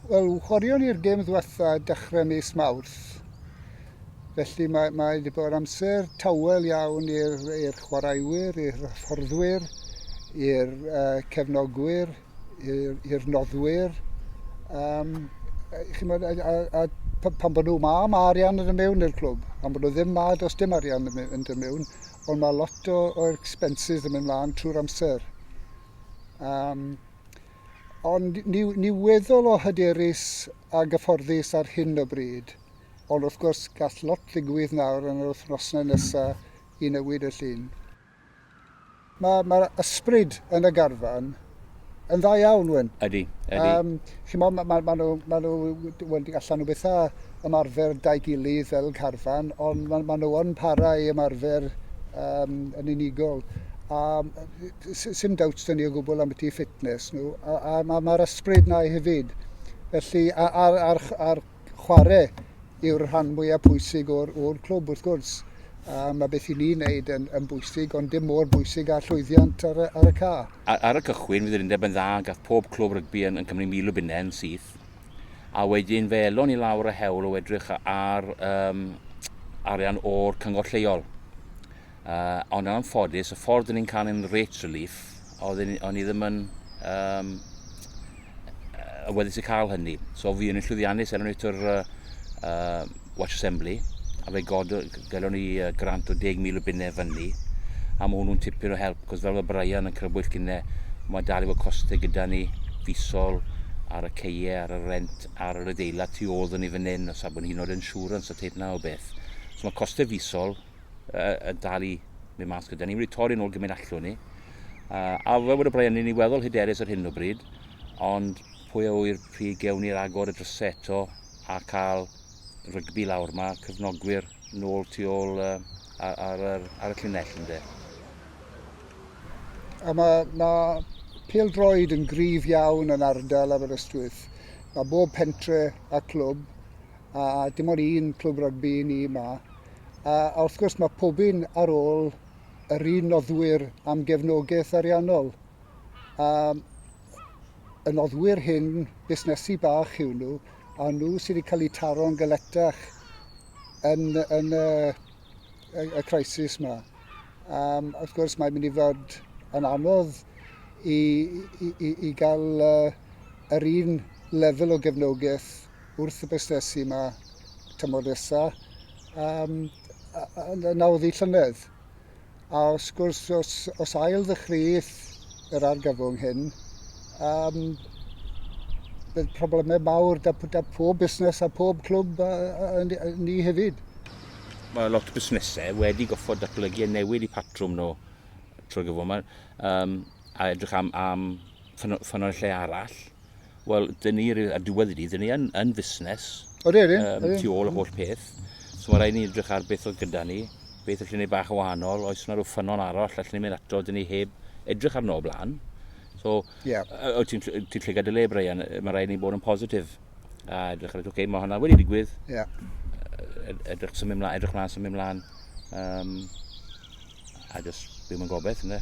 Wel, chwaraeon ni'r gêm ddiwetha' dechre mis Mawrth, felly mae mae 'di bod amser tawel iawn i'r i'r chwaraewyr, i'r hyfforddwyr, i'r uh, cefnogwyr, i'r i'r noddwyr. Um, chimod, a, a, a pan, pan bod nhw ma, mae arian yn y mewn i'r clwb. Pan bod nhw ddim ma, does dim arian yn mynd y mewn, ond mae lot o, o expenses yn mynd mlaen trwy'r amser. Um, Ond ni, ni weddol o hyderus a gyfforddus ar hyn o bryd. Ond wrth gwrs, gall lot ddigwydd nawr yn yr wythnosau nesa i newid y llun. Mae, mae'r ysbryd yn y garfan yn dda iawn, Wyn. Ydy, ydy. Um, chi'mo, ma, ma, ma nhw, ma nhw, wel, allan nhw byth a ymarfer dau gilydd fel carfan, ond ma, ma nhw yn para i ymarfer um, yn unigol. A Sim doubts dyn ni o gwbl am y tu fitness nhw, a, a mae'r ma ysbryd na hefyd. Felly, a'r, ar, ar chwarae yw'r rhan mwyaf pwysig o'r, or clwb wrth gwrs. A mae beth i ni wneud yn, yn bwysig, ond dim mor bwysig a llwyddiant ar y, ar y ca. Ar y cychwyn, fydd yr undeb yn dda, gath pob clwb rygbi yn, yn Cymru mil o bunnau yn syth. A wedyn fe elon ni lawr y hewl o edrych ar um, arian o'r cyngor lleol. Uh, ond yn anffodus, y ffordd ni'n cael ein rate relief, oedd o'n i ddim yn um, y weddus i cael hynny. So fi yn llwyddiannus er enghraifft o'r uh, uh, Watch Assembly, a fe god, galon ni uh, grant o 10,000 o bunnau fyny, a mae hwnnw'n tipyn o help, cos fel mae Brian yn crybwyll gynnau, mae dal i fod costau gyda ni, fisol, ar y ceie, ar y rent, ar yr adeilad tu ôl ni fan hyn, os abwn hyn o'r insurance a teip na o beth. So mae costau fisol yn dal i mynd mas gyda ni. Wedi torri nôl gymryd allwn ni. Uh, a fe bod y Brian ni'n ei weddol hyderus ar hyn o bryd, ond pwy a wyr pryd gewn ni'r agor y drysau eto a cael rygbi lawr. Mae cyfnogwyr nôl tu ôl uh, ar, ar, ar, ar y llunell ynddo. A mae, mae pil droed yn gryf iawn yn ardal Aberystwyth. Mae bob pentre a clwb a dim ond un clwb rygbi i ni yma. A, a wrth gwrs mae pob un ar ôl yr un noddwyr am gefnogaeth ariannol. A, y noddwyr hyn, busnesu bach yw nhw, a nhw sydd wedi cael eu taro'n galetach yn, yn y, y, y crisis yma. Um, wrth gwrs, mae'n mynd i fod yn anodd i, i, i, i gael uh, yr un lefel o gefnogaeth wrth y busnesu yma tymor nesa um, yn awddi llynedd. A wrth gwrs, os, os ail ddychrydd yr argyfwng hyn, um, bydd problemau mawr da, da pob busnes a pob clwb a, a, a, a ni hefyd. Mae lot o busnesau wedi goffod datblygu a newid i patrwm nhw trwy gyfwm um, a edrych am, am ffynonellau arall Wel, dyn ni, a diwedd i ni, dyn ni yn, yn fusnes. Odi, odi. Um, tu ôl y holl peth. So mae rhaid ni edrych ar beth oedd gyda ni, beth allwn ni bach o wahanol, oes yna rhyw ffynon arall allwn ni mynd ato, dyn ni heb edrych arno o blaen. So, yeah. ti'n ti lle gadael le, Brian, mae rhaid ni bod yn positif. A edrych ar, oce, okay, mae hwnna wedi digwydd. Yeah. Edrych symud mlaen, edrych mlaen, symud mlaen. Um, a just byw mewn gobeith, ynddo.